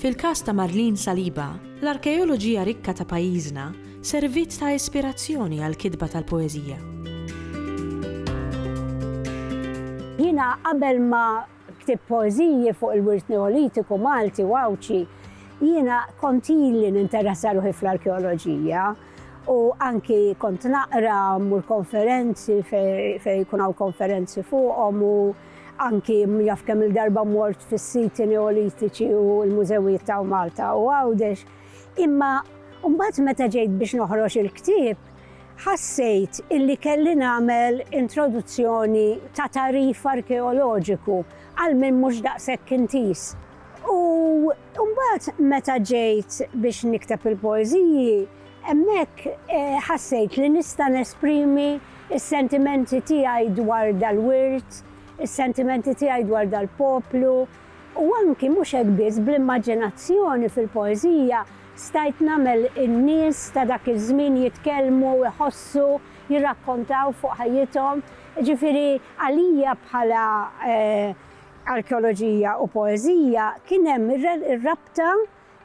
Fil-każ ta' Marlene Saliba, l-arkeoloġija rikka ta' pajjiżna serviet ta' ispirazzjoni għall-kitba tal-poeżija. Jiena qabel ma ktibt poeżiji fuq il-wirt Neolitiku Malti u Għawdxi, jiena kont ili ninteressa ruħi fl-arkeoloġija u anki kont naqra, mmur konferenzi fejn jkun hawn konferenzi fuqhom u Anki jaf kemm-il darba mort fis-siti Neolitiċi u l-mużewijiet ta' Malta u Għawdex, imma mbagħad meta ġejt biex noħroġ il-ktieb, ħassejt illi kelli nagħmel introduzzjoni ta' tagħrif arkeoloġiku għal min mhux daqshekk intiż. U. Imbagħad meta ġejt biex nikteb il-poeżiji, hemmhekk ħassejt li nista' nesprimi s-sentimenti tiegħi dwar dal-wirt, is-sentimenti tiegħi dwar dal-poplu, u anki mhux hekk biss bl-immaġinazzjoni fil-poeżija stajt nagħmel in-nies ta' dak iż-żmien jitkellmu, iħossu, jirrakkontaw fuq ħajjithom. Jiġifieri għalija bħala Arkeoloġija u poeżija kien hemm ir-rabta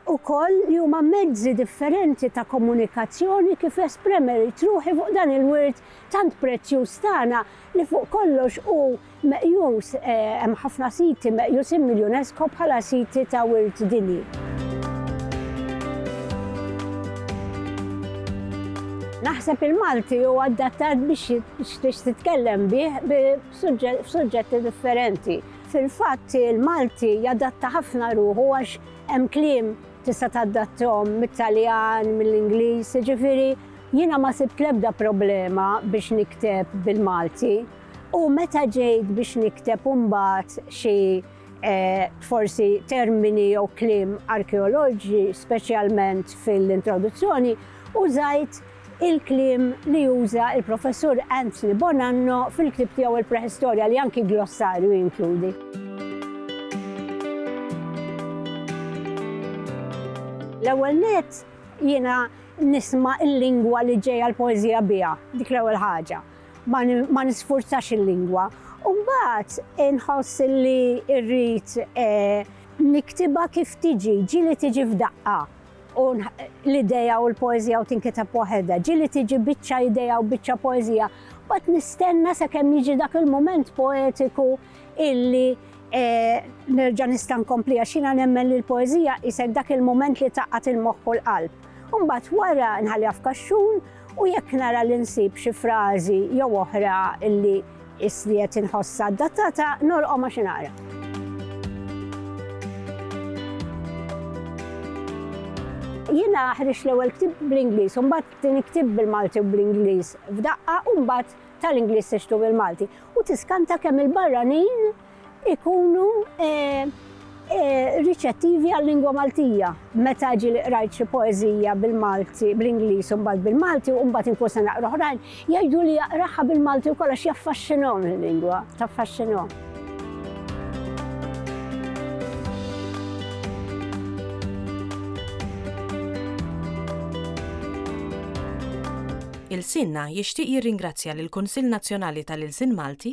wkoll li huma mezzi differenti ta' komunikazzjoni kif espremejt ruħi fuq dan il-wirt tant prezzjuż tagħna li fuq kollox hu meqjus, hemm ħafna siti meqjusin mill-UNESCO bħala siti ta' wirt dinji. Naħseb il-Malti hu adattat biex titkellem bih bi. f'suġġetti differenti. Fil-fatt, il-Malti jadatta ħafna ruħu għax hemm kliem tista' tadattahom mit-Taljan, mill-Ingliż, jiġifieri jiena ma sibt l-ebda problema biex nikteb bil-Malti. U meta ġejt biex nikteb imbagħad xi forsi termini jew kliem arkeoloġi, speċjalment fil-introduzzjoni, użajt il-kliem li juża l-Professur Anthony Bonanno fil-ktieb tiegħu Il-Preħistorja li anki glossarju jinkludi. L-ewwel net jiena nisma' l-lingwa li ġejja l-poeżija biha, dik l-ewwel ħaġa. Ma nisfurzax il-lingwa. U mbagħad inħoss li rrid eh, niktiba kif tiġi, ġili tiġi f'daqqa. u l-idea u l-poezija u tinkiteb waħedha. Ġili tiġi biċċa idea u biċċa poezija. Bat nistenna sa kemm jiġi dak il-moment poetiku illi eh, nerġa' nista' nkompli għax jiena nemmen li l-poezija isek dak il-moment li taqgħat il-moħħ u l-qalb. Umbat wara nħalli għafkaxxun U jekk nara li nsib xi frażi jew oħra li isli qed inħossha adattata, norqom għax inara. Jiena ħriġ l-ewwel ktib bl-Ingliż, u mbagħad tieni ktib bil-Malti u bl-Ingliż f'daqqa, u mbagħad tal-Ingliż tixtu bil-Malti. U tiskanta kemm il-barranin ikunu riċettivi għal-lingwa Maltija. Meta ġi li qrajt xi poeżija bil-Malti, bl-Ingliż u mbagħad bil-Malti u mbagħad inkun se naqra oħrajn, jgħidu li jaqraha bil-Malti wkoll għax jaffaxxinhom il-lingwa, taffaxxinhom. Ilsienna jixtieq jirringrazzja lill-Kunsill Nazzjonali tal-Ilsien Malti,